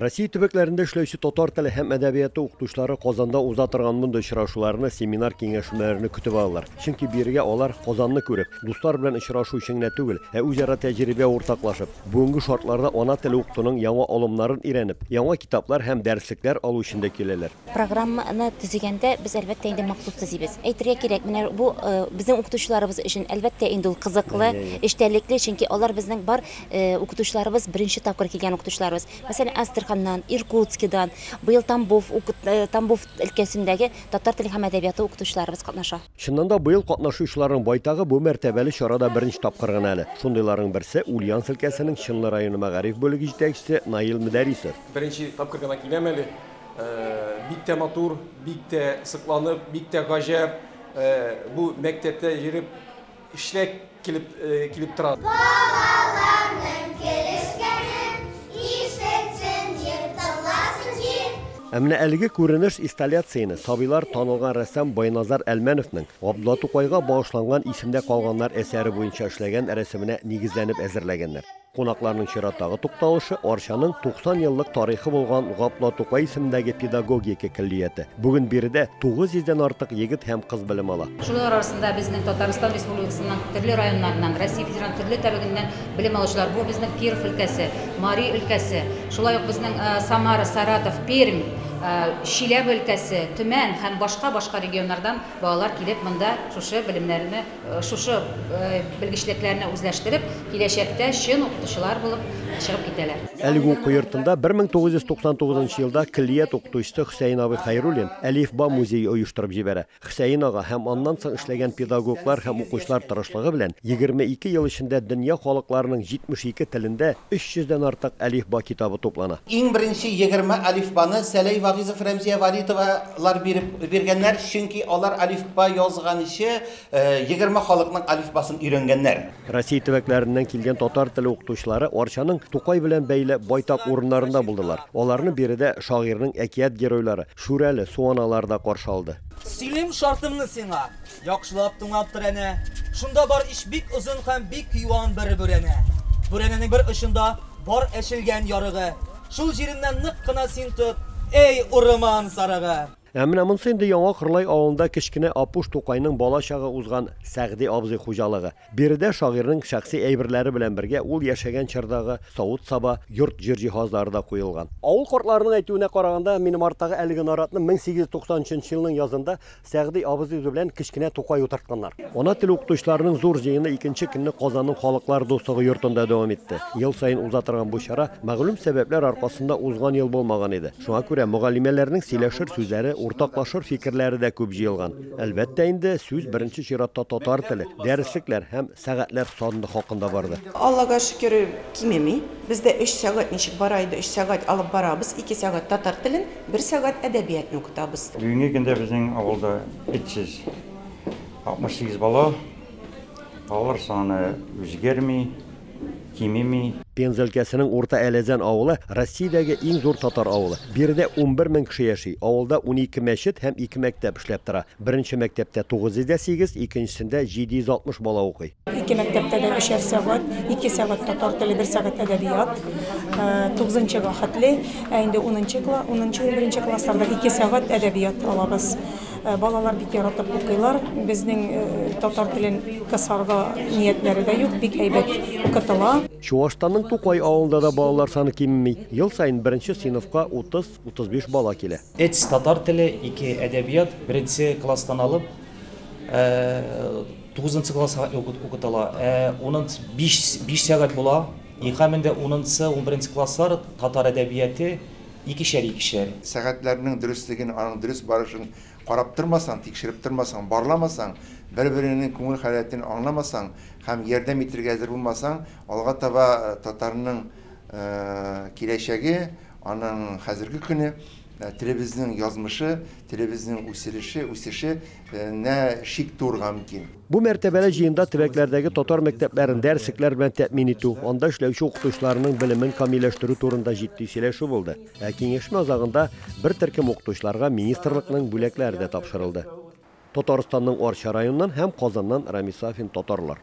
Россия төбәкләрендә эшләүче татар теле һәм әдәбияты укытучылары Казанда уза торган мондый очрашуларны, семинар киңәшмәләрне көтеп алалар. Чөнки бирегә алар Казанны күреп, дуслар белән очрашу өчен генә түгел, ә үзара тәҗрибә уртаклашып, бүгенге шартларда ана теле укытуның яңа алымнарын өйрәнеп, яңа китаплар һәм дәреслекләр алу өчен дә киләләр. Программаны төзегәндә без әлбәттә инде махсус төзибез. Әйтергә кирәк, менә бу безнең укытучыларыбыз өчен әлбәттә инде ул кызыклы, эчтәлекле, чөнки алар безнең бар Укытучыларыбыз беренче тапкыр килгән укытучыларыбыз. Мәсәлән, Астраханнан, Иркутскидан, быел Тамбов Тамбов өлкәсендәге татар теле һәм әдәбияты укытучыларыбыз катнаша. Чыннан да, быел катнашучыларның байтагы бу мәртәбәле чарада беренче тапкыр гына әле. Шундыйларның берсе, Ульяновск өлкәсенең Чынлы районы мәгариф бүлеге җитәкчесе Наил Мөдәрисов. Беренче тапкыр гына киләм әле. Бик тә матур, бик тә сокланып, бик тә гаҗәп бу мәктәптә йөреп. Эшенә килеп килеп тора. Балаларның керешкәнен ишетсен, җир тыңласын, җир. Ә менә әлеге күренеш исталяцияне сабыйлар танылган рәссам Байназар Әлмәновның Габдулла Тукайга багышланган Исемдә калганнар әсәре буенча эшләгән рәсеменә нигезләнеп әзерләгәннәр. Кунакларның чираттагы тукталышы, Арчаның 90 еллык тарихы булган Гапла Тукай исемендәге педагогика көллияте. Бүген биредә 900 дән артык егет һәм кыз белем ала. Шулар арасында безнең Татарстан Республикасының төрле районнарыннан, Россия Федераль төрле төбәгеннән белем алучылар. Бу безнең Киров өлкәсе, Мари өлкәсе, шулай ук безнең Самара, Саратов, Пермь, Чиләбе өлкәсе, Төмән һәм башка-башка регионнардан балалар килеп монда шушы белемнәрне Шушы белгечлекләрне үзләштереп, киләчәктә чын укытучылар булып чыгып китәләр. Әлеге уку йортында 1999 нчы елда көллият укытучысы Хөсәен абый Хәйруллин Әлифба музее оештырып җибәрә. Хөсәен ага һәм аннан соң эшләгән педагоглар һәм укучылар тырышлыгы белән 22 ел эчендә дөнья халыкларының 72 телендә 300 дән артык әлифба китабы туплана. Иң беренче егерме әлифбаны Сәләй Вагыйзов-Рәмзия Валитова Лар биреп биргәннәр, чөнки алар алифба язганчы егерме халыкның алифбасын өйрәнгәннәр. Россия төбәкләреннән килгән татар теле укытучылары Арчаның Тукай белән бәйле байтак урыннарында булдылар. Аларны биредә шагыйрьнең әкият геройлары, Шүрәле, Суаналар да каршы алды. Сөйлим шартымны сиңа, Яхшылап тыңлап тор әнә. Шунда бар ич бик озын һәм бик юан бер бүрәнә. Бүрәнәнең бер очында бар әчелгән ярыгы. Шул җиреннән нык кына син тот, әй урман сарыгы! Ә менә монсы инде Яңа Кырлай авылында кечкенә Апуш тукайның бала чагы узган Сәгъди абзый хуҗалыгы. Биредә шагыйрьнең шәхси әйберләре белән бергә ул яшәгән чордагы савыт-саба, йорт-җир җиһазлары да куелган. Авыл картларының әйтүенә караганда, минем арттагы әлеге наратны 1893 елның язында Сәгъди абзый үзе белән кечкенә Тукай утыртканнар. Ана теле укытучыларының зур җыены икенче көнне Казанның Халыклар дуслыгы йортында дәвам итте. Ел саен уза торган бу чара мәгълүм сәбәпләр аркасында узган ел булмаган иде. Шуңа күрә мөгаллимәләрнең сөйләшер сүзләре, уртаклашыр фикерләре дә күп җыелган. Әлбәттә инде, сүз беренче чиратта татар теле, дәреслекләр һәм сәгатьләр саны хакында барды. Аллага шөкер, кимеми. Бездә өч сәгать ничек бара иде, өч сәгать алып барабыз, ике сәгать татар телен, бер сәгать әдәбиятны укытабыз. Бүгенге көндә безнең авылда 368 бала, балалар саны үзгәрми, кимеми. Пенза өлкәсенең Урта Әләзән авылы, Россиядәге иң зур татар авылы. Биредә унбер мең кеше яши. Авылда унике мәчет һәм ике мәктәп эшләп тора. Беренче мәктәптә 908, икенчесендә 760 бала укый. Ике мәктәптә дә өчәр сәгать, ике сәгать татар теле, бер сәгать әдәбият. Тугызынчыга хәтле, ә инде унынчы, унынчы-унберенче классларда ике сәгать әдәбият алабыз. Балалар бик яратып укыйлар. Безнең татар телен кысарга ниятләре дә юк, бик әйбәт укытыла. Чуашстанның Тукай авылында да балалар саны кимеми. Ел саен беренче сыйныфка 30-35 бала килә. Эц, татар теле, ике, әдәбият, беренче класстан алып, тугызынчы класска укытыла. Ә унынчы, биш сәгать була. Икамендә унынчы, унберенче класслар татар әдәбияте, Икешәр-икешәр. Сәгатьләрнең дөреслеген, аның дөрес барышын карап тормасаң, тикшереп тормасаң, барламасаң, бер-береңнең күңел халәтен аңламасаң һәм ярдәм итергә әзер булмасаң, алга таба татарның киләчәге, аның хәзерге көне, телебезнең язмышы, телебезнең үсерешеүсеше, на шик туырга мөмкин. Бу мәртәбәле җыенда төбәкләрдәге татар мәктәпләрен дәреслекләр белән тәэмин итү, анда эшләүче укытучыларның белемен камилләштерү турында җитди сөйләшү булды. Ә киңәшмә азагында бер төркем укытучыларга министрлыкның бүләкләре дә тапшырылды. Татарстанның Арча районыннан һәм Казаннан Рамис Сафин татарлар.